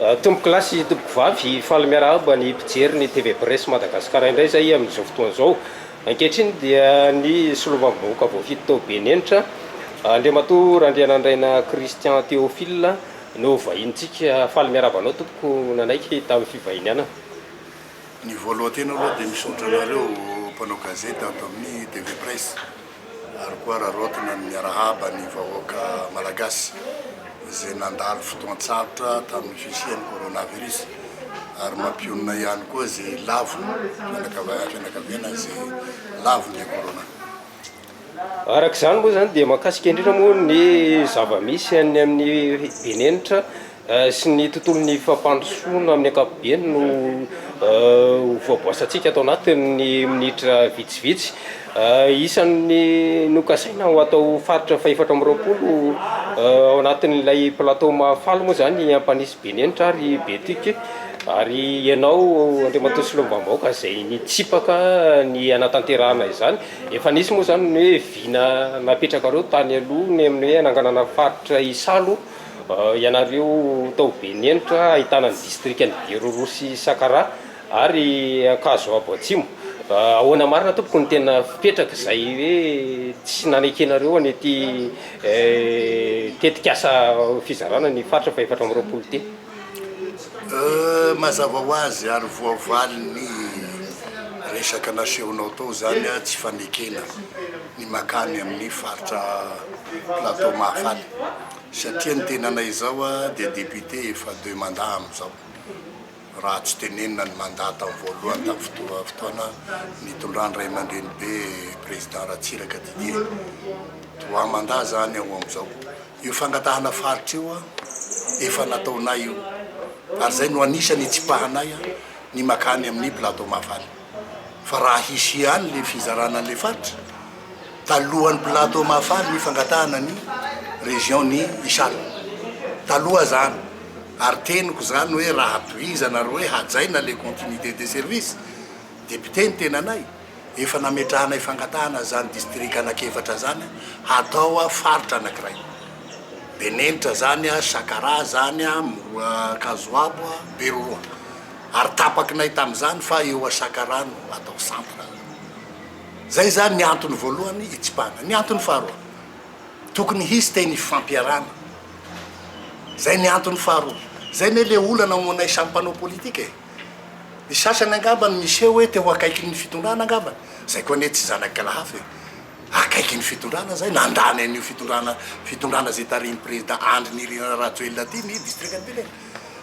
Tompoko lahy sy tompoko vavy, faly miarahaba ny mpijery ny TV Presse Madagascar indray izay amin'izao fotoana izao. Ankehitriny dia ny Solombavambahoaka voafidy tao Benenitra, Andriamatoa Randrianandraina Christian Théophile no vahinintsika. Faly miarahaba anao tompoko nanaiky tamin'ny fivahinianana. Ny voalohan-tena aloha dia misaotra anareo mpanao gazety ato amin'ny TV Presse. ary koa araraotina ny miarahaba ny vahoaka Malagasy izay nandalo fotoan-tsarotra tamin'ny fisian'ny coronavirus ary mampionona ihany koa izay lavo fianakaviana izay lavon'ilay corona. Araka izany moa izany dia mahakasika indrindra moa ny zava-misy any amin'ny benenitra. sy ny tontolon'ny fampandrosoana amin'ny ankapobeny no ho voaboasantsika ato anatin'ny minitra vitsivitsy. Isan'ny nokasaina ho atao faritra fahefatra amby roapolo ao anatin'ilay plateau Mahafaly moa izany i Ampanisy Benenitra ary Betuc ary ianao Andriamatoa Solombavambahoaka izay nitsipaka ny hanatanterahana izany. Efa nisy moa izany ny hoe vina napetrakareo tany aloha ny amin'ny hoe hananganana faritra Isalo. Ianareo tao Benenitra ahitana ny distrikan'i Beroroha sy Sakara ary Ankazoabo Atsimo. Ahoana marina tompoko ny tena fipetraka izay hoe tsy nanekenareo an'ity tetikasa fizarana ny faritra fahefatra amby roapolo ity? Mazava ho azy ary voavalin'ny resaka nasehonao tao izany tsy fanekena ny makany amin'ny faritra Plateau Mahafaly. Satria ny tenanay izao dia député efa deux mandats amin'izao, raha tsy tenenina ny mandat tao voalohany tamin'ny fotoa fotoana nitondran'ny ray aman-drenibe président Ratsiraka Didier, trois mandats izany ao amin'izao. Io fangatahana faritra io efa nataonay io ary izay no anisan'ny hitsipahanay ny makany amin'ny plateau Mahafaly. Fa raha hisy ihany le fizarana an'le faritra, talohan'ny plateau Mahafaly ny fangatahana ny région ny isale. Taloha zany. Ary teniko zany hoe raha tohizana ary hoe hajaina le continuité de service, député ny tenanay, efa nametrahanay fangatahana zany district anak'efatra zany hatao faritra anakiray. Benenitra zany, Sakaraha zany, Kazoabo, Beroroha. ary tapakinay tamin'izany fa eo Asakara no atao centre. Izay izany ny antony voalohany hitsipahana. Ny antony faharoa, tokony hisy teny ifampiarahana. Izay ny antony faharoa. Izay anie ilay olana ao aminay samy mpanao politika e! Ny sasany angamba no miseho hoe teo akaikin'ny fitondrana angamba. Izay koa anie tsy zanak'la hafa e! Akaikin'ny fitondrana izay, nandany an'io fitondrana fitondrana izay tarihin'i Président Andry Nirina Rajoelina ity ny distrikan'i Bele.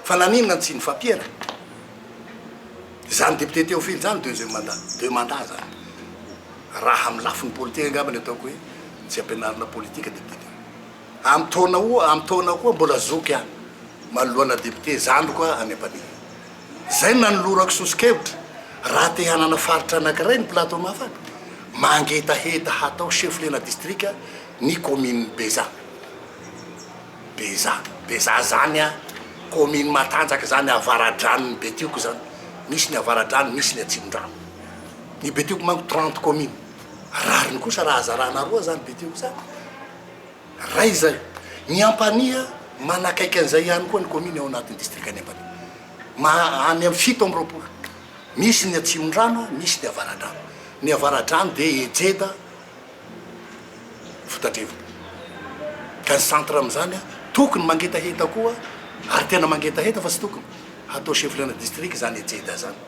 Fa naninona no tsy nifampiera izany député Théophile izany deuxième mandat? Deux mandats izany. Raha amin'ny lafiny politika angamba ny ataoko hoe tsy ampianarina politika député Théophile. Amin'ny taona o, amin'ny taona koa mbola zoky ihany manoloana député zandriko aho any Ampanihy. Izay no nanolorako soso-kevitra raha te hanana faritra anankiray ny Plateau-Mafana, mangetaheta hatao chef-lieu-na distrika ny commune Bezaha. Beza, Beza zany a commune matanjaka zany avaradranon'i Betioko zany, misy ny avaradrano misy ny atsimondrano, ny Betioko manko trente commune, rariny kosa raha zarana roa zany Betioko zany, ray zay, ny Ampanihy manakaiky an'izay ihany koa ny commune ao anatin'ny distrikan'i Ampanihy, ma, any amin'ny fito amby roapolo, misy ny atsimondrano misy ny avaradrano, ny avaradrano dia Ejeda, fotadrivony. Ka ny centre amin'izany tokony mangetaheta koa ary tena mangetaheta fa tsy tokony hatao chef-lieu-na district izany Ejeda izany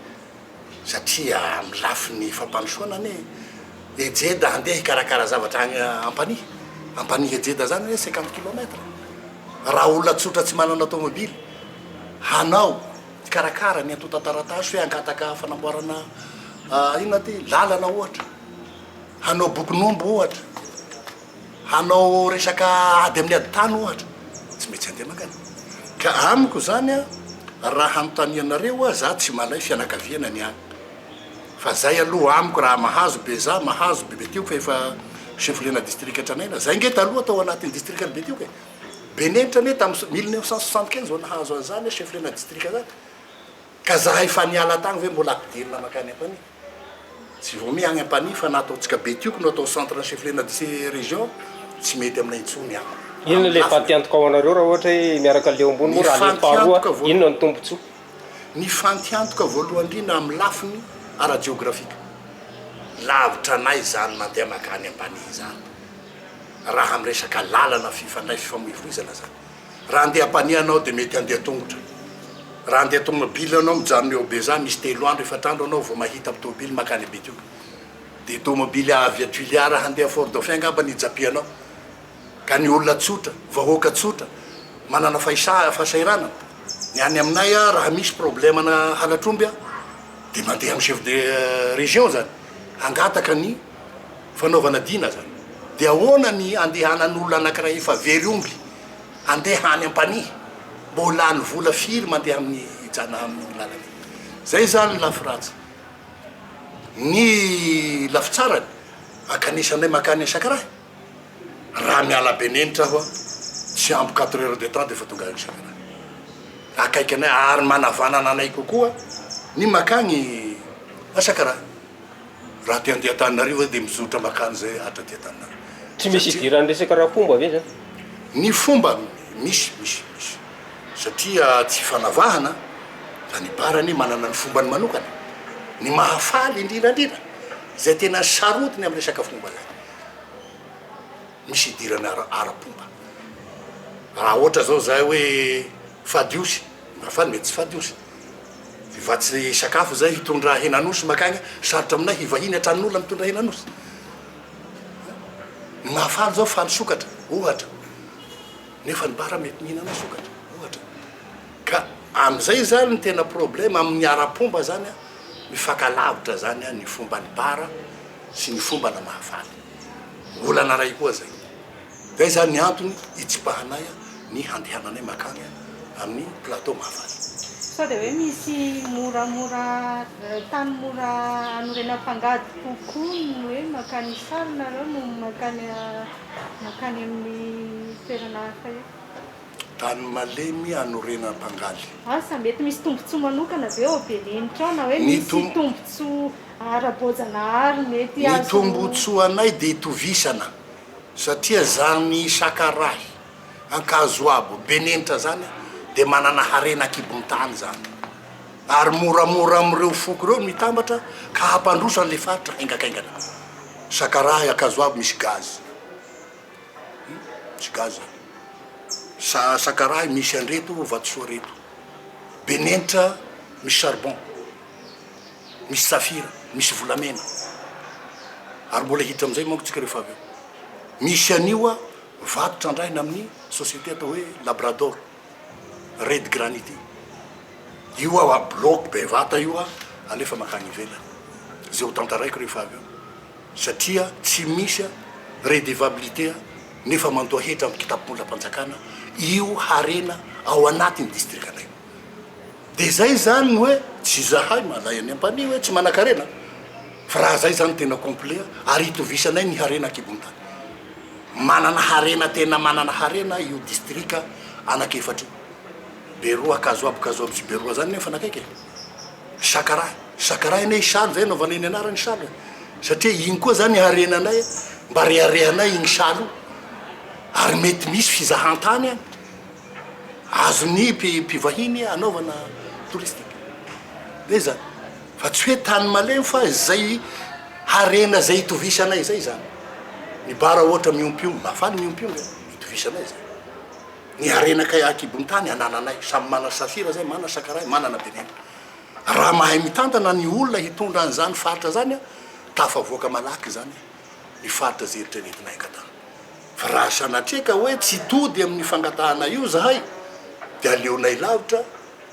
satria amin'ny lafiny fampandrosoana anie Ejeda handeha hikarakara zavatra any Ampanihy, Ampanihy Ejeda izany anie cinquante kilomètres. Raha olona tsotra tsy manana tomobily hanao hikarakara ny antontan-taratasy hoe hangataka fanamboarana inona ity, lalana ohatra. Hanao bokin'omby ohatra, hanao resaka ady amin'ny ady tany ohatra, tsy mety handeha mangana. Ka amiko izany an, raha hanontanianareo aho, za tsy malay fianakaviana ny any. Fa zay aloha amiko raha mahazo Beza, mahazo Bebetioky fa efa chefolena distrika tranaina. Zay nge taloha tao anatin'ny distrikan'i Betioky e. Benenitra nge tamin'ny mille neuf cent soixante quinze vao nahazo an'izany hoe chefolena distrika zany. Ka zahay efa niala tany ve mbola ampidirina mankany an-tany? Tsy vao miha any Ampanihy fa na ato Antsikabe tioko no atao centre ny chef-lieu-na de ces régions, tsy mety aminay intsony an. Inona ilay fantiantoka ho anareo raha ohatra hoe miaraka aleho ambony moa raha aleho faharoa inona no tombotsoa? Ny fantiantoka voalohany indrindra amin'ny lafiny ara-jeografika. Lavitra anay izany mandeha mankany Ampanihy izany raha amin'ny resaka lalana fifandraisana, fifamoivoizana izany. Raha handeha ampanihy ianao dia mety handeha an-tongotra. Raha handeha tomobile ianao, mijanona eo Beja, misy telo andro, efatra andro ianao vao mahita tomobile mankany Betioky. Dia tomobile avy à Tuliar handeha Fort Dauphin angamba ny hijapianao. Ka ny olona tsotra, vahoaka tsotra, manana fahisahiranana. Ny any aminay aho raha misy problème ana halatr'omby aho dia mandeha amin'ny chef de région izany hangataka ny. fanaovana dina aza de ahoana ny andehanan'olona anakiray efa very omby andeha any ampanihy mbô lany vola firy mandeha amin'ny hijana amin'iny lalana iny zay zany lafy ratsy ny lafy tsarany akanesanay makany sakarahy raha miala benenitra aho tsy ampy quatre heures de temps de efa tonga any sakarahy akaiky anay ary manavanana anay kokoa ny makany sakarahy Raha aty andiantananarivo zay dia mizotra makany zay hatra aty antananarivo. Tsy misy hidiran'ny resaka ara-pomba ve zany? Ny fomba misy misy misy satria tsy fanavahana fa ny bar anie manana ny fombany manokana. Ny mahafaly indrindra indrindra, izay tena sarotiny amin'ny resaka fomba zay. Misy hidirana ara-pomba. Raha ohatra zao zahay hoe fady osy, na fa mety tsy fady osy. Fa tsy sakafo izay hitondra henan'osy makagny, sarotra aminay hivahiny an-tranon'olona mitondra henan'osy. Ny mahafaly zao faly sokatra, ohatra. Nefa ny bara mety mihinana sokatra, ohatra. Ka amizay zany ny tena problema amin'ny ara-pomba zany, mifakalavitra zany ny fomban'ny bara sy ny fomba na mahafaly. olana iray koa zay. Zay zany ny antony hitsipahanay ny handehananay makany amin'ny plateau Mahafaly. Sao dia hoe misy moramora tany mora anorenam-pangady kokoa ny hoe makany Isary nareo no makany makany amin'ny toerana hafa eo? Tany malemy hanorenana mpangaly. Asa, mety misy tombontsoa manokana ve ao Belenitra ao na hoe misy tombontsoa ara-boajanahary mety azo. Ny tombontsoanay dia itovisana satria izany sakarahy, ankazoabo, Belenitra izany dia manana harena an-kibon-tany izany ary moramora amin'ireo foko ireo no hitambatra ka hampandroso an'ilay faritra haingakaingana. Sakarahy, ankazoabo, misy gaz. Tsy gasy zany. Sa sakarahy misy an'ireto vatosoa reto. Be nenitra misy charbon, misy safira, misy volamena. Ary mbola hiditra amin'izay manko tsika rehefa avy eo. Misy an'io vato trandrahina amin'ny société atao hoe Labrador, Red Granite. Io bloc bevata io alefa mankany ivelany. Izay ho tantaraiko rehefa avy eo. satria tsy misy redevabilité nefa mandoa hetra amin'ny kitapom-bolam-panjakana io harena ao anatin'ny distrikanay io. Dia zay zany ny hoe tsy izahay mahalay an'i Ampanihy hoe tsy manan-karena fa raha zay zany tena complet ary itovisanay ny harena an-kibon'ny tany. Manana harena tena manana harena io distrika anakefatra io. Beroa, Kazoabo, Kazoabo sy Beroa zany nefa nakaiky e! Sakaraha, Sakaraha anie Isaly zay anaovanay ny anarany Isaly a! satria iny koa zany harenanay a! mba reharehanay iny Isaly io ary mety misy fizahantany any azon'ny mpivahiny anaovana touristique de zany fa tsy hoe tany malemy fa zay harena zay itovisanay zay zany ny bara ohatra miompy omby, mahafaly ny miompy omby a! itovisanay zay. Ny harena kay akibon tany anananay samy mana safira zay mana sakaray manana benenta raha mahay mitantana ny olona hitondra an zany faritra zany a tafavoaka malaky zany ny faritra ze eritreretinay angatahana fa raha sanatria ka hoe tsy tody amin ny fangatahana io zahay de aleonay lavitra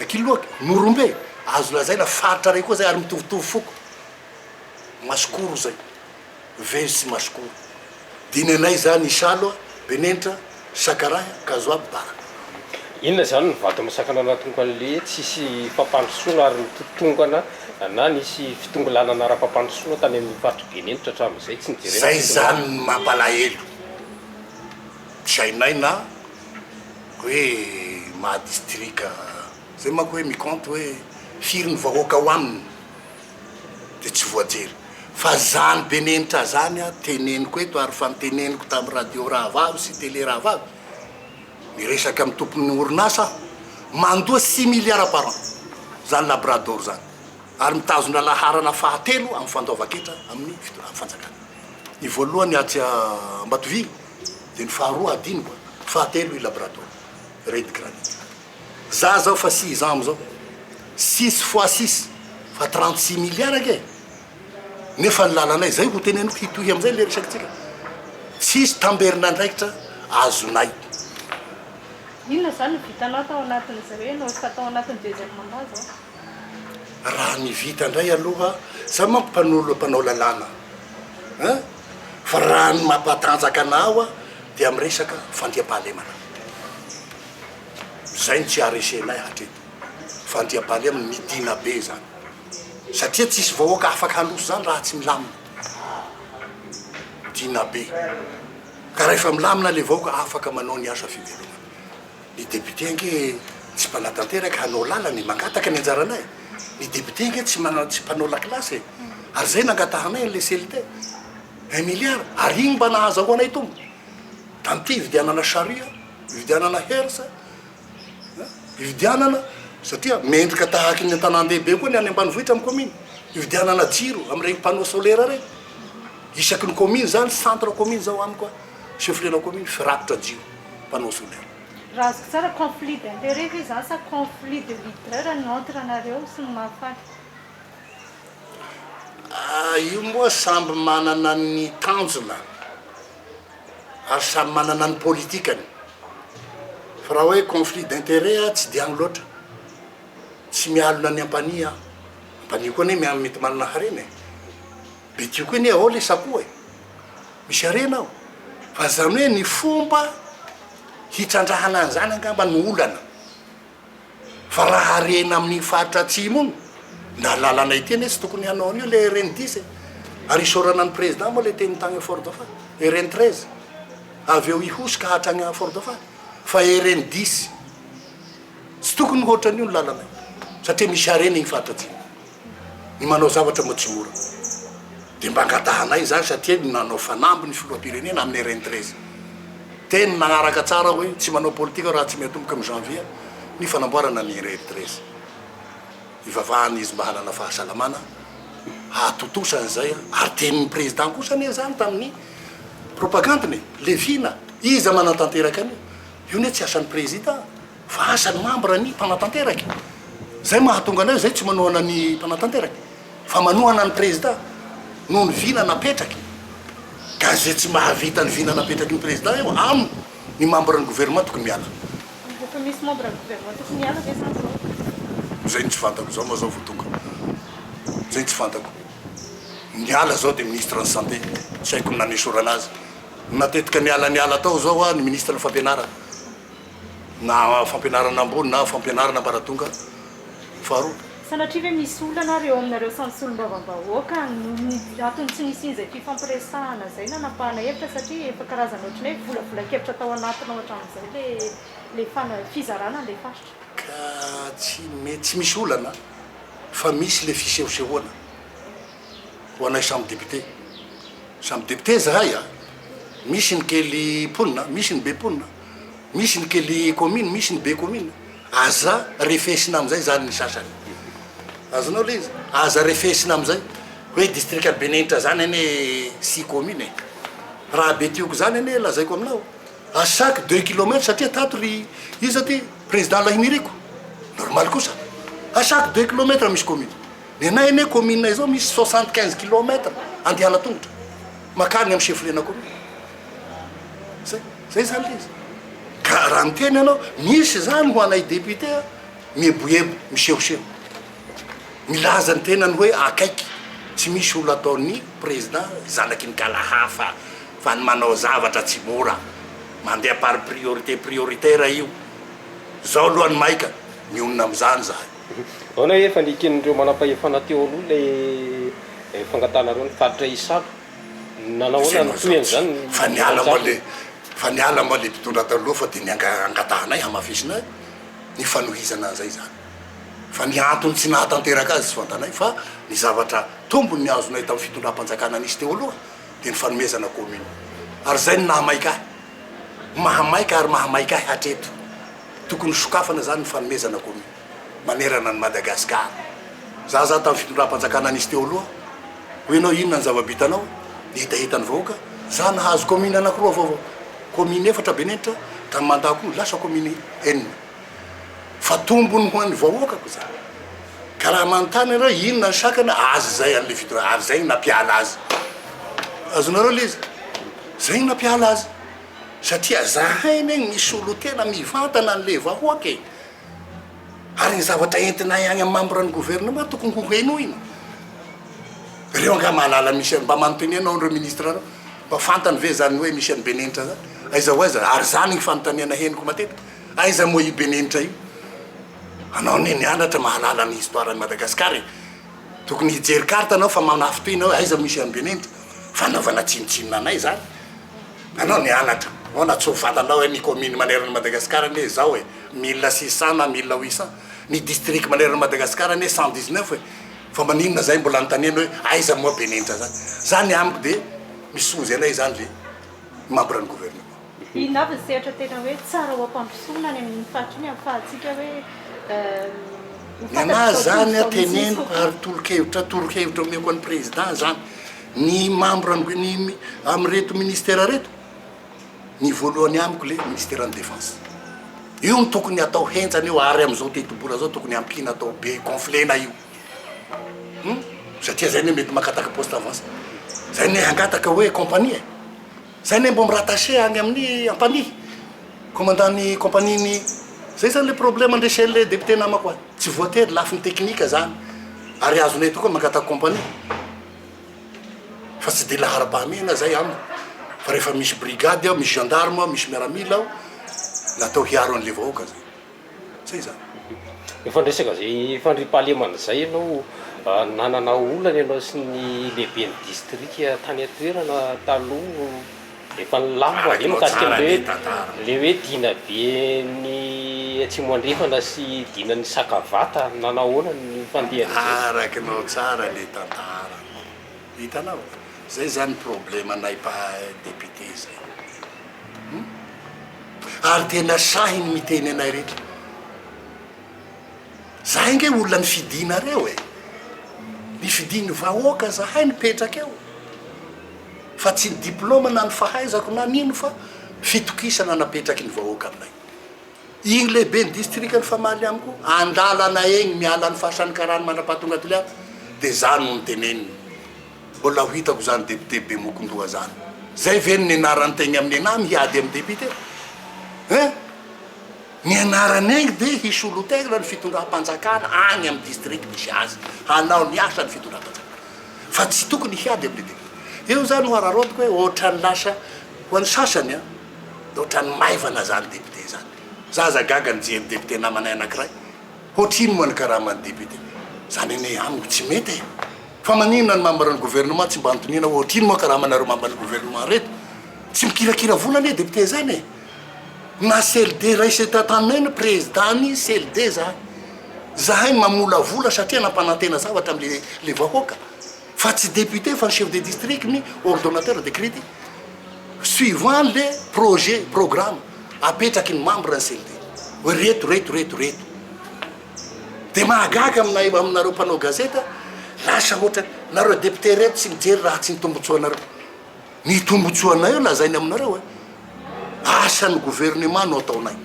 Ankiloaka, Morombe e! Azo lazaina faritra iray koa izay ary mitovitovy foko. Masikoro izay, very sy masikoro. Dia ny anay izany Isalo, Benenitra, Sakarahy, Kazoabo, Bara. Inona izany ny vato misakana na tongoka an'le tsisy fampandrosoana ary ny totongana na nisy fitongilanana ara-pampandrosoana tany amin'ny faritry Benenitra hatramin'izay? Tsy nijerena ny fitongilanana. Zay izany ny mampalahelo. Tsy hainay na. hoe maha distrika zay manko hoe mi compte hoe firy ny vahoaka ao aminy dia tsy voajery fa zany be nenitra zany aho teneniko eto ary fa niteneniko tamin'ny radio rahavavy sy tele rahavavy miresaka amin'ny tompon'ny orinasa aho mandoa six milliards par an zany labrador zany ary mitazona laharana fahatelo amin'ny fandoavan-ketra amin'ny fanjakana ny voalohany atsy Ambatovy dia ny faharoa hadinoko a! fahatelo i Labrador Red Granite. Za zao fa six ans amzao, six fois six fa trente six milliards anie e! nefa ny lalanay zay ho teneniko hitohy amzay le resakintsika, tsisy tamberin'andraikitra azonay. Inona izany no vitanao tao anatin'izay hoe Naosika tao anatin'ny deuxième mandat zao? Raha ny vita indray aloha, za manko mpanolo mpanao lalàna a! fa raha ny mampatanjaka anah oa dia miresaka fandriampahalemana. Izay no tsy aharesenay hatreto, fandriampahalemana, midina be izany satria tsisy vahoaka afaka handroso izany raha tsy milamina, midina be ka rahefa milamina ilay vahoaka afaka manao ny asa fivelomana. Ny député ange tsy mpanatanteraka hanao lalana e, mangataka ny anjaranay. Ny député ange tsy mana tsy mpanao lakilasy e, ary zay nangatahanay an'le CLT. Un milliard, ary iny mba nahazahoanay tombony. Danty hividianana charrue, hividianana hearse, hein, hividianana, satria mendrika tahaka ny an-tanàn-dehibe koa ny any ambanivohitra amin'ny commune. Hividianana jiro amin'ireny panneau solaire ireny. Isaky ny commune zany, centre commune zao amiko a, chef-lieu-na commune, firakotra jiro. mpanao solaire. Raha azoko tsara conflit d'intérêt ve izany sa conflit de leader no entre anareo sy ny Mafana? Ah, io moa samby manana ny tanjona ary samy manana ny politikany. Fa raha hoe conflit d'intérêt aho tsy dia any loatra. Tsy mialona ny ampanihy aho. Ampanihy koa anie mety manana harena e! Be dioko anie ao le sakoa e! Misy harena ao fa zany hoe ny fomba hitrandrahana an'izany angamba no olana fa raha harena amin'iny faritra atsimo iny na lalana ity anie tsy tokony hanao an'io le RN dix e! ary isaorana an'i Président moa le teny tany Fort Dauphin, RN treize avy eo Ihosy hatrany Fort Dauphin fa RN dix tsy tokony hoatran'io ny lalana io satria misy harena iny faritra atsimo. Ny manao zavatra majora dia mba angatahanay izany satria ny nanao fanamby ny filoham-pirenena amin'ny rntrz teny nanaraka tsara hoe tsy manao politika raha tsy miatomboka amin'ny janvier ny fanamboarana ny rntrz ivavahana izy mba hanana fahasalamana hahatontosa an'izay ary tenin'ny président kosa anie izany tamin'ny propagandiny levina iza manatanteraka an'io io anie tsy asan'ny président Fa asa ny mambra ny mpanatanteraka e! Zay mahatonga anay zay tsy manohana ny mpanatanteraka fa manohana ny prezida noho ny vina napetraky ka ze tsy mahavita ny vina napetraky ny prezida eo aminy ny mambra ny governement tokony miala. Efa misy mambra ny governement tokony miala ve zany zao? Zay no tsy fantako zao ma zao vo tonga zay no tsy fantako niala zao de ministre ny santé tsy haiko ny nanesorana azy natetika niala niala tao zao hoa ny ministre ny fampianarana Na fampianarana ambony na fampianarana ambaratonga faharoa. Sanatria ve misy olana ary eo aminareo samy solombavambahoaka noho ny antony tsy nisian'izay fifampiresahana izay nanapahana hevitra satria efa karazana ohatran'ny hoe volavolan-kevitra tao anatiny ao hatramin'izay ilay fizarana an'ilay faritra? Ka tsy mety tsy misy olana fa misy ilay fisehosehoana ho anay samy député. Samy député izahay a! Misy ny kely mponina, misy ny be mponina. misy ny kely commune misy ny be commune aza refesina amizay zany ny sasany azonao le izy aza refesina amizay hoe distrika benenitra zany anie six commune e raha betioko zany anie lazaiko aminao a chaque deux kilomètre satria tato ry iza ty president lahiniriko normal kosa a chaque deux kilomètre misy commune ny anay anie commune izao misy soixante quinze kilomètre andehana tongotra makany amy chefferie-na commune zay Zay zany le izy. Ka raha miteny ianao misy zany ho anay député a, mieboebo, misehoseho. Milaza ny tenany hoe akaiky. Tsy misy olona ataon'ny président zanaky ny kala hafa fa ny manao zavatra tsy mora. Mandeha par priorité prioritaire io. Zao aloha ny maika mionona amizany zahay. Ahoana efa ny eken'ireo manampahefana teo aloha ilay fangatahana ireo ny faritra hisalo? Izay no atao tsy, fa niala moa le, fa niala moa le mpitondra taloha fa dia ny angatahanay hamafisina ny fanohizana an'izay izany, fa ny antony tsy nahatanteraka azy tsy fantanay, fa ny zavatra tombony azonay tamin'ny fitondram-panjakana nisy teo aloha dia ny fanomezana commune, ary izay no nahamaika ahy, mahamaika ary mahamaika ahy hatreto, tokony sokafana izany ny fanomezana commune. manerana an'i Madagascar. Za za tamin'ny fitondram-panjakana nisy teo aloha, hoy ianao inona ny zava-bitanao? Ny hetahetan'ny vahoaka, za nahazo commune anakiroa vaovao, commune efatra Benenitra, tamin'ny mandat-ko lasa commune enina. Fa tombony ho an'ny vahoakako izany. Ka raha manontany ianareo hoe inona ny sakana, azy izay an'ilay fitondra, ary izay no nampiala azy. Azonareo ilay izy? Izay no nampiala azy. Satria zahay anie misolo tena mivantana an'ilay vahoaka e. Ary ny zavatra entinay any amin'ny membre ny gouvernement tokony ho henoina. Ireo angaha mahalala an'i Michel, mba manontenia ianao an'ireo ministres ireo, mba fantany ve izany hoe Michel Benenitra izany? Aiza ho aiza? Ary izany ny fanontaniana henoko matetika, aiza moa io Benenitra io? Anao anie nianatra, mahalala ny histoire an'i Madagascar e! Tokony hijery carte anao fa manafintohina hoe aiza Michel Benenitra? Fanaovana tsinontsinona anay izany. Anao nianatra, anao natsoa vata anao hoe ny commune manerana an'i Madagasikara anie izao e, mille six cent na mille huit cent, ny district manerana an'i Madagasikara anie cent dix neuf e, fa maninona izay mbola anontaniana hoe aiza moa be nenitra zany? Za ny amiko dia ny soa izay na izany le membre ny gouvernement. Inona avy ny sehatra tena hoe tsara ho ampandrosoana any amin'iny faritra iny ahafahantsika hoe ho fantatr'izao tontolo izao mihitsy kokoa? Ny anahy izany teneniko ary tolo-kevitra toro-kevitra omeko an'i Président izany. Ny membre ny amin'ireto ministère reto, ny voalohany amiko le ministère ny defense. Io no tokony atao henjana io ary amin'izao tetibola zao tokony ampiana atao be gonflena io. Hum, satria zay anie mety makataka poste avance. Zay anie hangataka hoe compagnie e. Zay anie mbo mi-rattacher any amin'ny ampanihy, commandant ny compagnie ny. Zay zany le problème andresen'le député namako any. Tsy voatery lafiny technique zany ary azonay tokoa mankataka compagnie. fa tsy dia laharam-pahamehana izay amiko fa rehefa misy brigade ao, misy gendarme ao, misy miaramila ao, natao hiaro an'ilay vahoaka izay. Izay izany. Efa niresaka izay fandriampahalemana izay ianao, nanana olana ianao sy ny lehiben'ny distrika tany an-toerana taloha? Efa nilaza aho ve mikasika ny hoe le hoe dina be ny atsimo andrefana sy dina ny sakavata nanahoana ny fandehan'izy ireo? Arakinao tsara le tantara anao. Hitanao? Zay zany problema nay mpahay député zay. Hum. Ary tena sahy ny miteny anay rehetra. Zahay nge olona nifidinareo e! Nifidin'ny vahoaka zahay nipetraka eo fa tsy ny diploma na ny fahaizako na ny ino fa fitokisana napetraky ny vahoaka aminay. Igny lehiben'ny distrikan'i Famaly ihany koa an-dalana egny miala ny faritra ny karany mandrapahatonga Toliara de za no niteneniny. Mbola ho hitako zany député Bemokondoha zany. Zay ve no nenarany tegny amin'ny nenahy miady amin'ny député? Hein? Ny anarany ainga dia hisolotegna ny fitondram-panjakana agny amin'ny district misy azy, hanao ny asany fitondram-panjakana fa tsy tokony hiady amin'ny député. Io zany no araraotiko hoe ohatrany lasa, ho an'ny sasany an, dia ohatrany maivana zany député zany. Za aza gaga nijery député namanay anakiray, hoatrino moa ny karaman'ny député? Zany anie amiko tsy mety e! Fa maninona ny membre-n'ny gouvernement tsy mba anotoniana hoe ohatrino moa karamanareo membre-n'ny gouvernement reto? Tsy mikirakira vola anie député zany e! Na CLD raised taminay ny prezidany CLD zany zahay mamolavola satria nampanantena zavatra amle le vahoaka fa tsy député fa ny chef de district ny ordonnateur decrete suivant le projet programme apetraky ny membre ny CLD hoe reto reto reto reto de mahagaga aminay aminareo mpanao gazeta lasa ohatran nareo député reto tsy mijery raha tsy ny tombotsoanareo Ny tombotsoanay eo lazainy aminareo e! Asan'ny gouvernement no ataonay.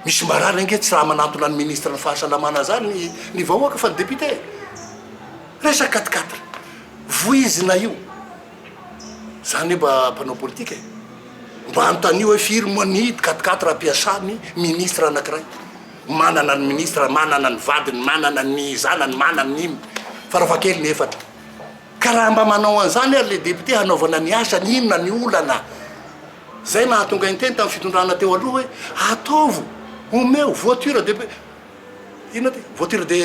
Misy marary ange tsy raha manantona ny ministre ny fahasalamana zany ny ny vahoaka fa ny député e! Resaka quatre quatre voizina io. Za anie mba mpanao politika e! Mba anontanio hoe firy moa ny quatre quatre ampiasan'ny ministre anakiray? Manana ny ministre, manana ny vadiny, manana ny zanany, manana ny inona. Farafahakeliny efatra. Ka raha mba manao an'izany ary ilay député hanaovana ny asany, inona ny olana? Izay nahatonga niteny tamin'ny fitondrana teo aloha hoe ataovo, omeo voiture de, inona ity? voiture de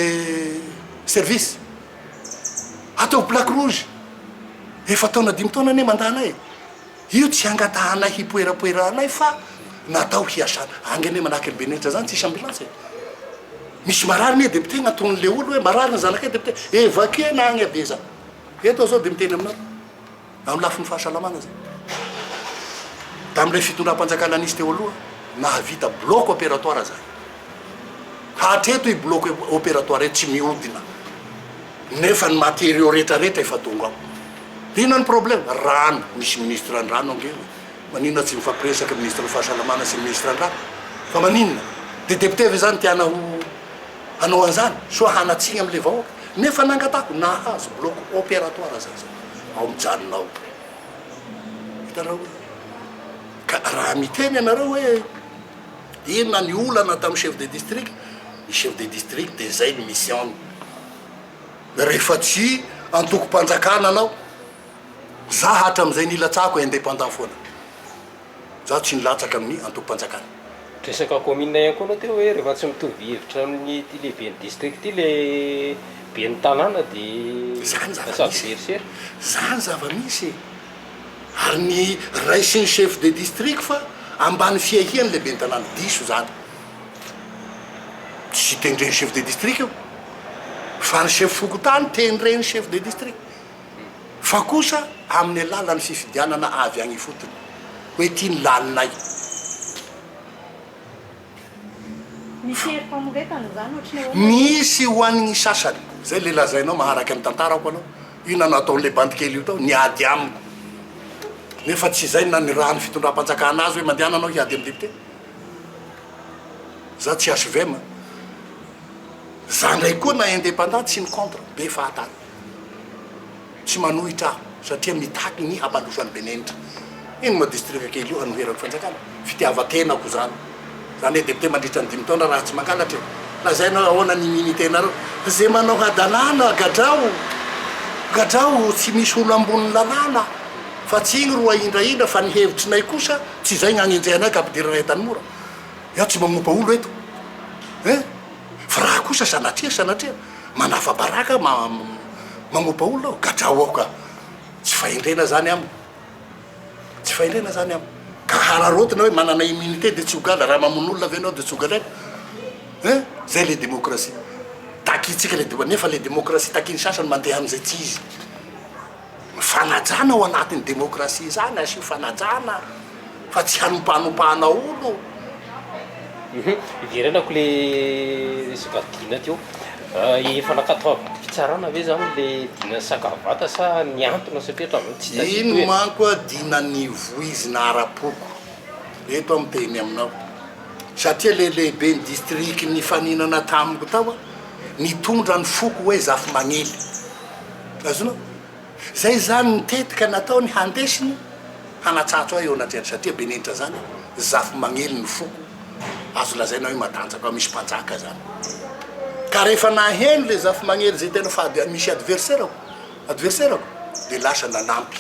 service, ataovo plaque rouge, efa-taona dimy taona anie mandana e! Io tsy hangatahanay hipoerapoerahanay fa natao hiasana. Any anie manahaka an'i Beneja zany tsisy ambulance e! Misy marary anie député gn'antonony le olo hoe marary ny zanakay député évacuer-na agny avia za! Eto aho zao de miteny aminao amin'ny lafiny fahasalamana zany. Tamin'ilay fitondram-panjakana nisy teo aloha nahavita bloc opératoire zany. Hatreto i bloc opératoire io tsy mihodina nefa ny matériaux retraretra efa tonga ao. Inona ny problème? Rano, misy ministre ny rano ange e! Maninona tsy mifampiresaka ministre ny fahasalamana sy ny ministre ny rano? Fa maninona? Dia député ve zany tiana ho hanao an'izany? Soa hanatsiny amin'ilay vahoaka? Nefa nangatako, nahazo bloc opératoire za zao, ao mijanona ao. Hitanao hoe? Ka raha miteny ianareo hoe inona ny olana tamin'ny chef de district, ny chef de district dia izay ny mission-ny. Rehefa tsy antokom-panjakana anao, za hatramizay nilatsahako indépendant foana, za tsy nilatsaka amin'ny antokom-panjakana. Resaka commune ihany koa anao teo hoe rehefa tsy mitovy hevitra amin'ity lehiben'ny district ity le ben'ny tanàna de lasa adversaire. Zany zava-misy e! Ary ny ray sy ny chef de district fa ambany fiahian'ny lehiben'ny tanàna. Diso zany. Tsy tendren'ny chef de district io fa ny chef fokontany tendren'ny chef de district fa kosa amin'ny alalan'ny fifidianana avy any ifotony hoe ity ny laninay. Misy herim-pamoretana izany ohatry ny ahoana? Misy ho an'ny sasany. Izay ilay lazainao maharaka ny tantarako anao. Inona no ataon'ilay bandikely io tao? Niady amiko. Nefa tsy izay no nanirahan'ny fitondram-panjakana azy hoe mandehana anao hiady amin'ny député. Za tsy HVM a! Za ndray koa na indépendant tsy ny contre be fahatany. Tsy manohitra aho satria mitaky ny hampandroso an'i Benenitra. Iny moa distrika kely io hanoheran'ny fanjakana. Fitiavan-tenako zany. Za anie député mandritra ny dimy taona raha tsy mangalatra e! Lazainao hoe ahoana ny immunité-nareo? Ze manao hadalana gadrao! Gadrao! Tsy misy olo ambonin'ny lalàna fa tsy igny ro ahindrahindra fa ny hevitrinay kosa. Tsy izay ny agnenjehanay ka ampidiranay an-tanimora. Izaho tsy mamopa olo eto eh! Fa raha kosa sanatria sanatria manafa-baraka ma mamopa olona aho, gadrao aho ka! Tsy fahendrena izany amiko. Tsy fahendrena izany amiko. Ka hararaotina hoe manana immunité dia tsy ho gadra, raha mamono olona ve ianao dia tsy ho gadraina eh! Izay ilay demokrasia takintsika ilay demo, nefa ilay demokrasia takin'ny sasany mandeha amin'izay tsy izy. Ny fanajana ao anatin'ny demokrasia izany asio fanajana fa tsy hanompanompana olo Hiverenako le resaka Dina teo. Efa nakatao am-pitsarana ve zany le Dina Sakavata sa nihantona satria hatramin'izao tsy tadidiko e. Iny manko a Dina nivoizina ara-poko eto aho miteny aminao satria le lehiben'ny district nifaninana tamiko tao a nitondra ny foko hoe Zafimagnely. Azonao? Zay zany ny tetika nataony handesiny hanatsatso ahy eo anatrehan'ny satria benenitra zany zafy magnely ny foko azo lazaina hoe matanjaka misy mpanjaka zany ka rehefa naheno le zafy magnely zay tena fa misy adverserako adverserako de lasa nanampy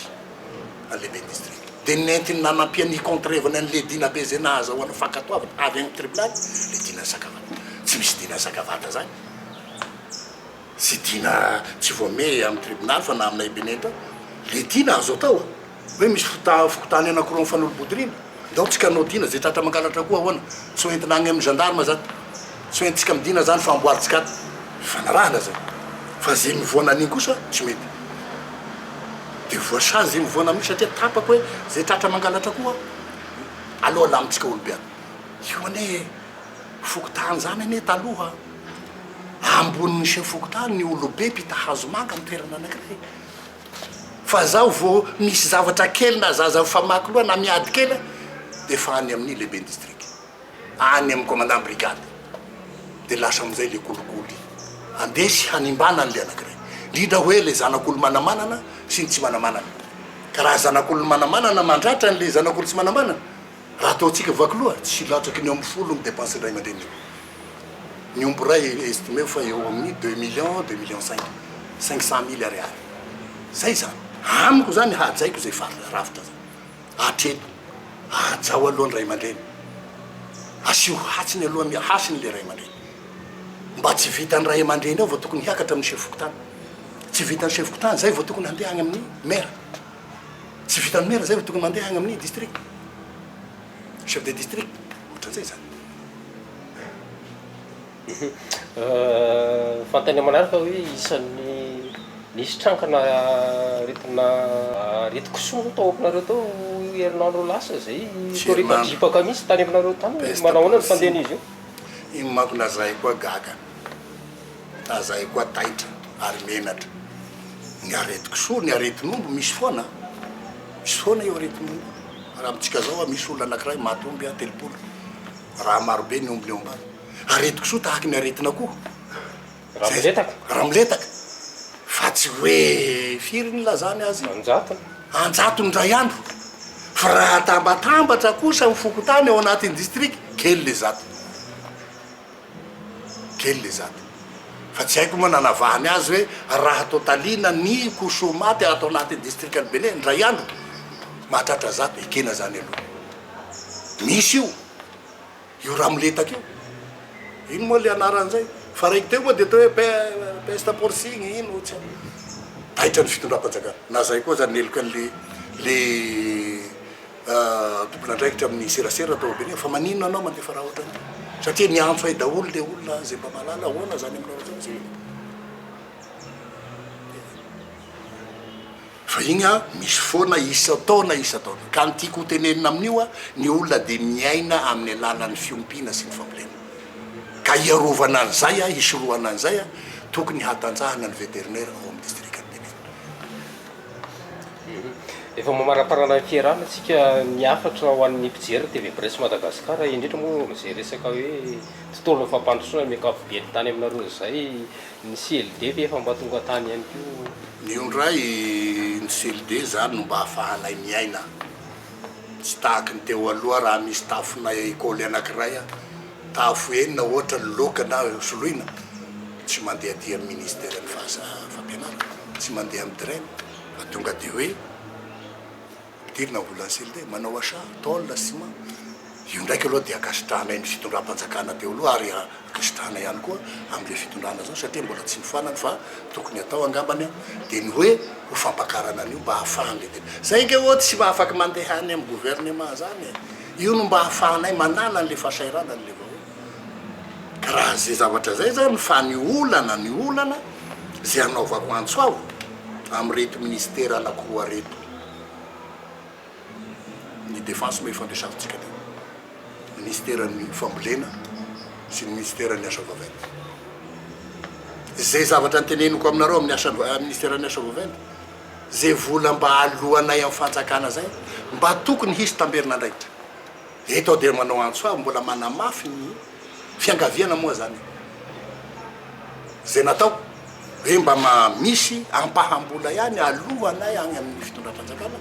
an'le be district de nentiny nanampiany hicontrevany an'le dina be zay nahazahoany fankatoavana avy any tribonaly le dina sakavata tsy misy dina sakavata zany Tsy dina tsy voamehy amin'ny tribonaly fa na aminay Benenta le dina azo atao a! Hoe misy fota fokotany anakiroa mifanolo-bodorina? Ndao tsika anao dina zay tratra mangalatra koa ahoana? Tsy ho entina agny amin'ny gendarme zany? Tsy ho entintsika midina zany fa amboarintsika ato? Fifanarahana zay! Fa zay mivoana an'igny kosa tsy mety! De voasazy zay mivoana amin'igny satria tapaka hoe zay tratra mangalatra koa aleo alamintsika olo-biavy! Io anie fokotany zany anie taloha! ambonin'ny chef fokontany ny olobe mpita hazo manga amin'ny toerana anankiray. Fa zaho vao misy zavatra kely na zaza mifamaky loha na miady kely aho dia efa any amin'ny lehiben'ny distrika, any amin'ny commandant brigade. Dia lasa amin'izay ilay kolikoly handresy hanimbana an'ilay anankiray. Indrindra hoe ilay zanak'olo manamanana sy ny tsy manamanana. Ka raha zanak'olo manamanana mandratra an'ilay zanak'olo tsy manamanana, Raha ataontsika vaky loha, tsy latsaky ny eo amin'ny folo ny depensin'ny ray aman-dreniny. Ny omby iray estimeo fa eo amin'ny deux millions, deux millions cinq, cinq cent mille ariary. Izay izany. Amiko izany, hajaiko izay faritra rafitra izay. Hatreto, hajao aloha ny ray aman-dreny. Asio hatsiny aloha ny hasiny ilay ray aman-dreny. Mba tsy vitan'ny ray aman-dreny ao vao tokony hiakatra amin'ny chef fokontany. Tsy vitan'ny chef fokontany izay vao tokony handeha any amin'ny maire. Tsy vitan'ny maire zay fa tokony mandeha agny amin'ny district, chef de district, ohatran'izay zany. Fantany aman'araka hoe isan'ny nisy tranga naretina aretin-kisoa moa tao aminareo tao herinandro lasa zay, nikorita dripaka mihitsy tany aminareo tany, manahoana ny fandehan'izy io? Iny manko lazaiko koa gaga. Aza hay koa taitra ary menatra ny aretin-kisoa, ny aretin'omby misy foana an! Misy foana io aretin'omby io. Raha amintsika izao an, misy olona anankiray maty omby an, telopolo, raha marobe ny ombiny eo ambany. Aretin-kisoa tahaka ny aretin'akoho. Raha miletaka. Raha miletaka. Fa tsy hoe firy ny nilazany azy? An-jatony. An-jatony indray andro. Fa raha atambatambatra kosa ny fokontany ao anatin'ny distrika, kely ny zato. kely le zandriny fa tsy haiko moa nanavahany azy hoe raha tôtalina ny kosômaty ato anatin'ny distrikan'i Bele indray andro mahatratra zato ekena zany aloha misy io io ramoletaka io ino moa le anaran'izay fa raiky teo moa dia atao hoe pesta porcine ino tsy haiko taitra ny fitondram-panjakana na zay koa aza ny heloka an'le le tompon'andraikitra amin'ny serasera tao Beniamina fa maninona anao mandefa raha ohatran'io satria niantso ay daholo le olona izay mba mahalala ahoana zany aminao zany zay fa igny a misy foana isan-taona isan-taona ka ny tiako hotenenina amin'io a ny olona dia miaina amin'ny alalan'ny fiompiana sy ny fambolena ka hiarovana an'izay a hisorohana an'izay a tokony hahatanjahana ny vétérinaire ao amin'ny distrikan'i Beniamina Efa mamaraparana ny fierana tsika ny hafatra ho an'ny mpijery ny TV Presse Madagascar indrindra moa amin'izay resaka hoe tontolon'ny fampandrosoana ny ankapobeny tany aminareo izay ny CLD ve efa mba tonga tany ihany koa? Mioundray ny CLD izany no mba ahafahanay miaina tsy tahaky ny teo aloha raha misy tafonay école anakiray Tafo enina ohatra ny loka na soloina, tsy mandeha aty amin'ny ministeran'ny fampianarana, tsy mandeha amin'ny DREM fa tonga dia hoe ampidirina ny volan'ny CLD, manao achat, tôle, ciment. Io ndraiky aloha dia ankasitrahanay ny fitondram-panjakana teo aloha ary ankasitrahana ihany koa amin'ilay fitondrana izao satria mbola tsy nifoanany fa tokony atao angambany dia ny hoe ho fampakarana an'io mba ahafahan'ilay tena. Izay ange ô tsy afaky mandeha any amin'ny governemant izany e! Io no mba ahafahanay manana an'ilay fahasahiranan'ilay vahoaka. Ka raha izay zavatra izay izany fa ny olana, ny olana izay hanaovako antso aho amin'ireto minisitera anankiroa ireto, ny Defense moa efa niresafintsika teo, minisiteran'ny fambolena sy ny minisiteran'ny asa vaventy. Izay zavatra noteneniko aminareo amin'ny asa, minisiteran'ny asa vaventy, Zay vola mba aloanay amin'ny fanjakana zay mba tokony hisy tamberin'andraikitra eto aho dia manao antso ahy mbola manamafy ny fiangaviana moa zany zay natao hoe mba ma misy ampaham-bola ihany aloanay agny amin'ny fitondram-panjakana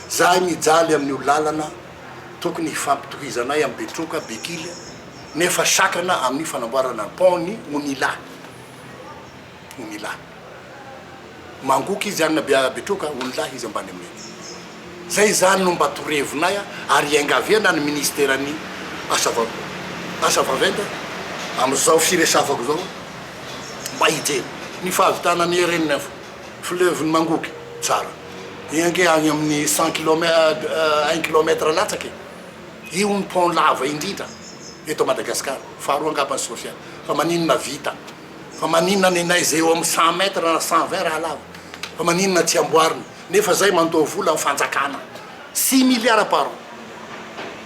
zahay mijaly amin'io lalana tokony hifampitohizanay am Betroka, Bekily nefa sakana amin'ny fanamboarana ny pont ny Onila. ony lahy. Mangoka izy any be betroka ony lahy izy ambany aminay. Zay zany no mba torevinay ary iangavena ny ministeran'ny asa vav asa vaventy amzao firesafako zao mba hijery ny fahavitana ny heren'ny info fleuve ny mangoky tsara io ange agny amin'ny cent kilomètre un kilomètre latsaka e! Io ny pont lava indrindra eto Madagascar faharoa angamba ny Sofia fa maninona vita Fa maninona ny neige eo amin'ny cent mètres na cent vingt raha lava? Fa maninona tsy amboarina? Nefa izay mandoa vola ny fanjakana. Six milliards par an.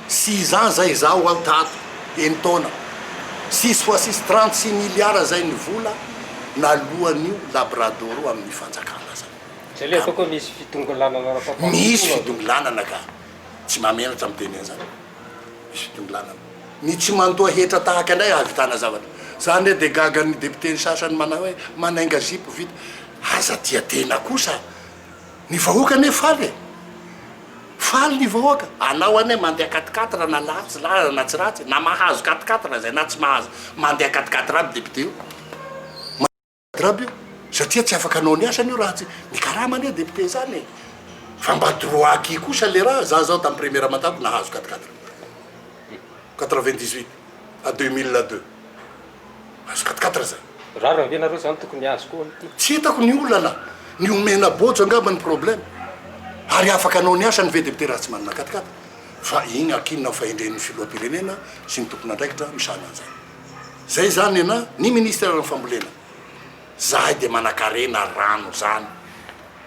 Six ans izay izaho ho aho tato, enin-taona. Six fois six, trente six milliards izay ny vola naloan'io labradoro amin'ny fanjakana izay. Izay ilay ataoko hoe misy fidongilanana ara-pampandrosoana. Misy fidongilanana ka. Tsy mahamenatra ny miteny an'izany. Misy fidongilanana. Ny tsy manotoa hetra tahaka indray hahavitana zavatra. Zany re dia gaga ny député ny sasany manao hoe manainga zipo vita. Aza tia tena kosa. Ny vahoaka anie faly e. Faly ny vahoaka. Anao anie mandeha quat-quatre na latsy lalana na tsy ratsy na mahazo quat-quatre zay na tsy mahazo mandeha quat-quatre aby député io. Grab io satria tsy afaka anao ny asany io raha tsy ny karama anie député izany e. Fa mba droit acquis kosa le raha, za zao tam premier amantato nahazo quatre quatre quatre vingt dix huit à deux mille deux nahazo quatre quatre zay. Rariny ve nareo zany tokony azo koa ity. Tsy hitako ny olana, ny omena bojo angamba ny problème. Ary afaka anao ny asany ve député raha tsy manana quatre quatre? Fa igny akinona fahendren'ny filohampirenena sy ny tompon'andraikitra misahana an'izany. Zay zany nena ny ministre ny fambolena. Zahay dia manakarena rano zany.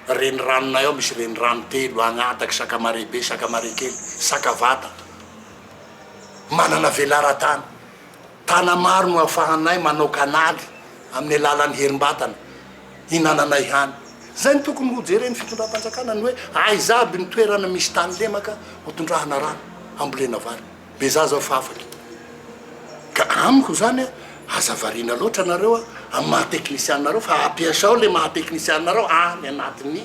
Reniranonay ao misy renirano telo, Agnataky, Sakamarehibe, Sakamarekely, Sakavata. Manana velaran-tany. Tana maro no afahanay manao kanaly amin'ny alalan'ny herimbatana hinananay hany. Zay no tokony ho jeren'ny fitondram-panjakana ny hoe aiza aby ny toerana misy tany lemaka hotondrahana rano hambolena vary. Be zaza fa afaka. Ka amiko izany a, aza variana loatra nareo a, amin'ny maha teknisianareo fa ampiasao le maha teknisianareo any anatin'ny,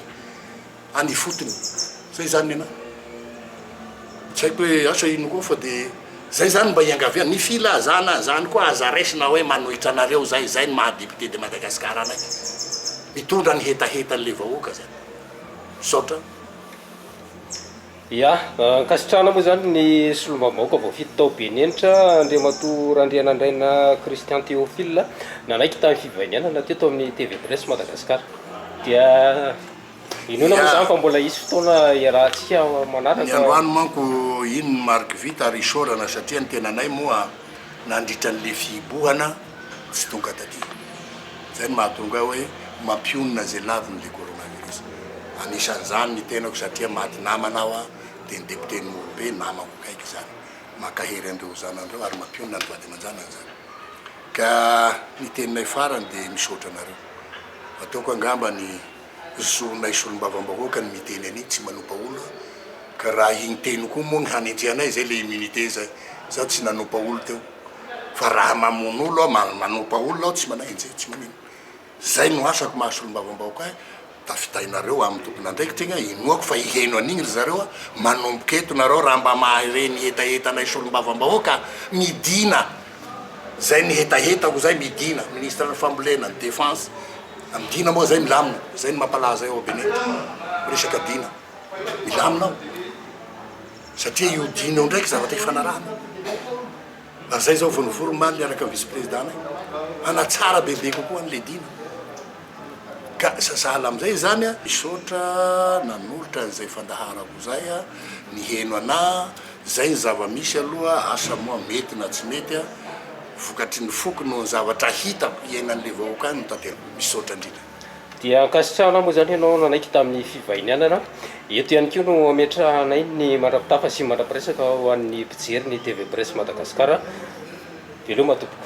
any ifotony. Zay izany ny anahy. Tsy haiko hoe asa ino koa fa dia zay izany mba iangaviana. Ny filazana an'izany koa aza raisina hoe manohitra anareo zay, izay ny maha député de Madagascar anay. Mitondra ny hetahetan'ilay vahoaka zay. Misaotra. Ia, ankasitrahana moa izany ny solombavambahoaka voafidy tao Benenitra, Andriamatoa Randrianandraina Christian Théophile, nanaiky tamin'ny fivahinianana teto amin'ny TV Presse Madagascar. Dia inoana moa izany fa mbola hisy fotoana hiarahantsika manaraka. Ny androany manko iny ny mariky vita ary isaorana satria ny tenanay moa nandritra an'ilay fihibohana, tsy tonga taty. Izay no mahatonga ahy hoe mampionona izay laviny ilay coronavirus. Anisan'izany ny tenako satria maty namana aho dia ny député Norobe namako akaiky izany. Mankahery an'ireo zanan'ireo ary mampionona ny vady aman-janany izany. Ka ny teninay farany dia misaotra anareo. Ataoko angamba ny. zonay solombavambahoaka ny miteny an'iny tsy manompa olo ka raha iny teny koa moa ny hanenjehanay zay le immunité zay za tsy nanompa olo teo fa raha mamono olo aho ma manompa olona aho tsy manaenjeha tsy manino zay no asako maha solombavambahoaka ahy tafitainareo amin'ny tompon'andraikitra igny aho inoako fa hiheno an'igny ry zareo a manomboka eto nareo raha mba mahay reny hetahetanay solombavambahoaka midina Zay ny hetahetako zay midina ministre ny fambolena ny defense a midina moa zay milamina zay ny mampalaza eo Benin resaka dina milamina ao satria io dina eo ndraiky zavatra ifanarahana ary zay zao vao nivory omaly niaraka vice president nay hanatsara bebe kokoa any le dina ka sahala amizay zany a misaotra nanolotra anizay fandaharako zay a niheno anah Zay ny zava misy aloha, asa moa mety na tsy mety a, vokatry ny foko noho ny zavatra hitako iainan'le vahoaka any no tanteraiko. Misaotra indrindra. Dia ankasitrahana moa izany ianao nanaiky tamin'ny fivahinianana. Eto ihany koa no ametrahanay ny mandra-pitafa sy mandra-piresaka ho an'ny mpijery ny TV Presse Madagascar. Veloma tompoko.